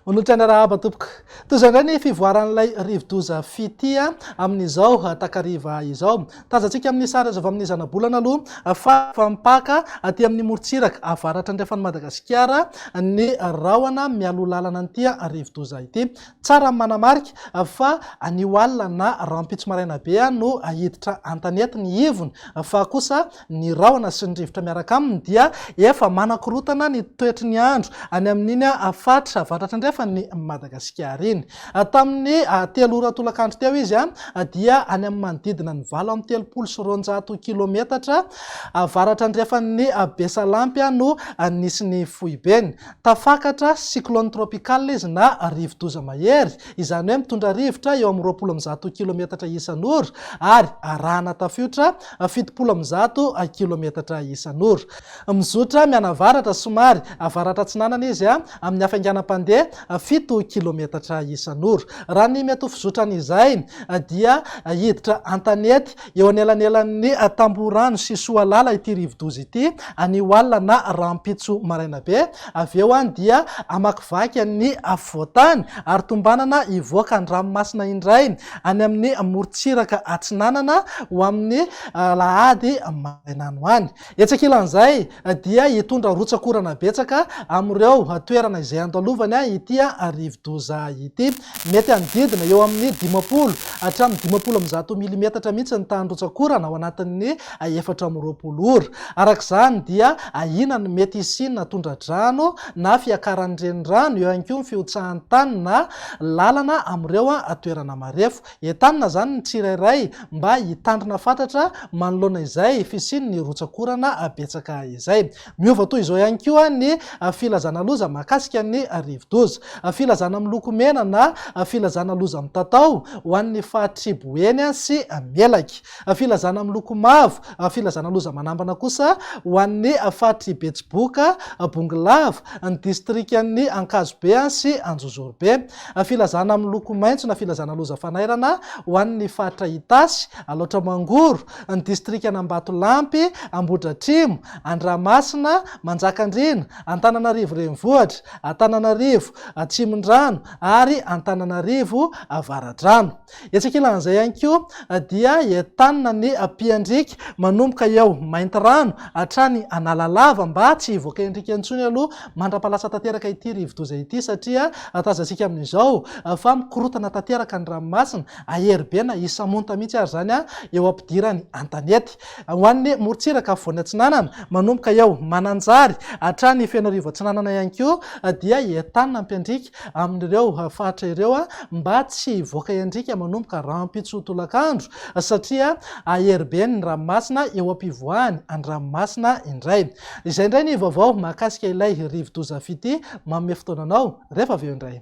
Manohitra ny arahaba tompoko. Toy izao indray ny fivoaran'ilay rivodoza Fitia amin'izao takariva izao. Tazantsika amin'ny sary azo avy amin'ny zanabolana aloha fa efa mipaka aty amin'ny morontsiraka avaratra andrefan'i Madagasikara ny rahona mialoha lalana an'ity rivodoza ity. Tsara ny manamarika fa anio alina na rahampitso maraina be no hiditra an-tanety ny ivony fa kosa ny rahona sy ny rivotra miaraka aminy dia efa manakorotana ny toetry ny andro any amin'iny faritra avaratra andrefan'i Madagasikara iny. Tamin'ny telo ora tolakandro teo izy dia any amin'ny manodidina ny valo amby telopolo sy roanjato kilometatra avaratra andrefan'i Besalampy no nisy ny foibeny. Tafakatra cyclone tropical izy na rivodoza mahery, izany hoe mitondra rivotra eo amin'ny roapolo amby zato kilometatra isan'ora ary arahana tafiotra fitopolo amby zato kilometatra isan'ora. Mizotra mianavaratra somary avaratra-atsinanana izy amin'ny hafainganam-pandeha fito kilometatra isan'ora. Raha ny mety ho fizotran'izay dia hiditra an-tanety Eo anelanelan'ny Tamborano sy Soalala ity rivodoza ity, anio alina na rahampitso maraina be. Avy eo any dia hamakivaky an'ny afovoan-tany ary tombanana hivoaka an-dranomasina indray, any amin'ny morontsiraka atsinanana, ho amin'ny alahady maraina any ho any. Etsy ankilan'izay dia hitondra rotsak'orana betsaka amin'ireo toerana izay andalovany ity rivodoza ity. Mety hanodidina eo amin'ny dimampolo hatramin'ny dimampolo amby zato milimetatra mihitsy ny tahan'ny rotsak'orana ao anatin'ny efatra amby roapolo ora. Araka izany dia ahiana ny mety hisian'ny tondra-drano na fiakaran'ny renirano, eo ihany koa ny fihotsahan'ny tany na lalana amin'ireo toerana marefo. Entanina izany ny tsirairay mba hitandrina fatratra manoloana izay fisian'ny rotsak'orana betsaka izay. Miova toy izao ihany koa ny filazana loza mahakasika ny rivodoza. Filazana miloko mena na filazana loza mitatao ho an'ny faritry Boeny sy Melaky. Filazana miloko mavo, filazana loza manambana kosa ho an'ny faritry Betsiboka, Bongolava, ny distrikan'ny Ankazobe sy Anjozorobe. Filazana miloko maitso na filazana loza fanairana ho an'ny faritra Itasy, Alaotra Mangoro, ny distrikan'Ambatolampy, Ambohidratrimo, Andramasina, Manjakandriana, Antananarivo Renivohitra, Antananarivo Atsimondrano ary Antananarivo Avaradrano. Etsy ankilan'izay ihany koa dia i Etana ny mpiandriaka manomboka eo Maintirano hatrany Analalava mba tsy hivoaka endrika intsony aloha mandra-pahalatsa tanteraka ity rivodoza ity satria tazantsika amin'izao fa mikorontana tanteraka ny ranomasina, ahery be na hisamonta mihitsy ary izany eo am-pidirany an-tanety. Ho an'ny morontsiraka afovoany atsinanana manomboka eo Mananjary hatrany Fenoarivo atsinanana ihany koa dia i Etana mpiandriaka amin'ireo faritra ireo mba tsy hivoaka iandriaka manomboka rahampitso tolakandro satria hahery be ny ranomasina eo am-pivoahany an-dranomasina indray. Izay indray ny vaovao mahakasika ilay rivodoza Fiti. Manome fotoana anao rehefa avy eo indray.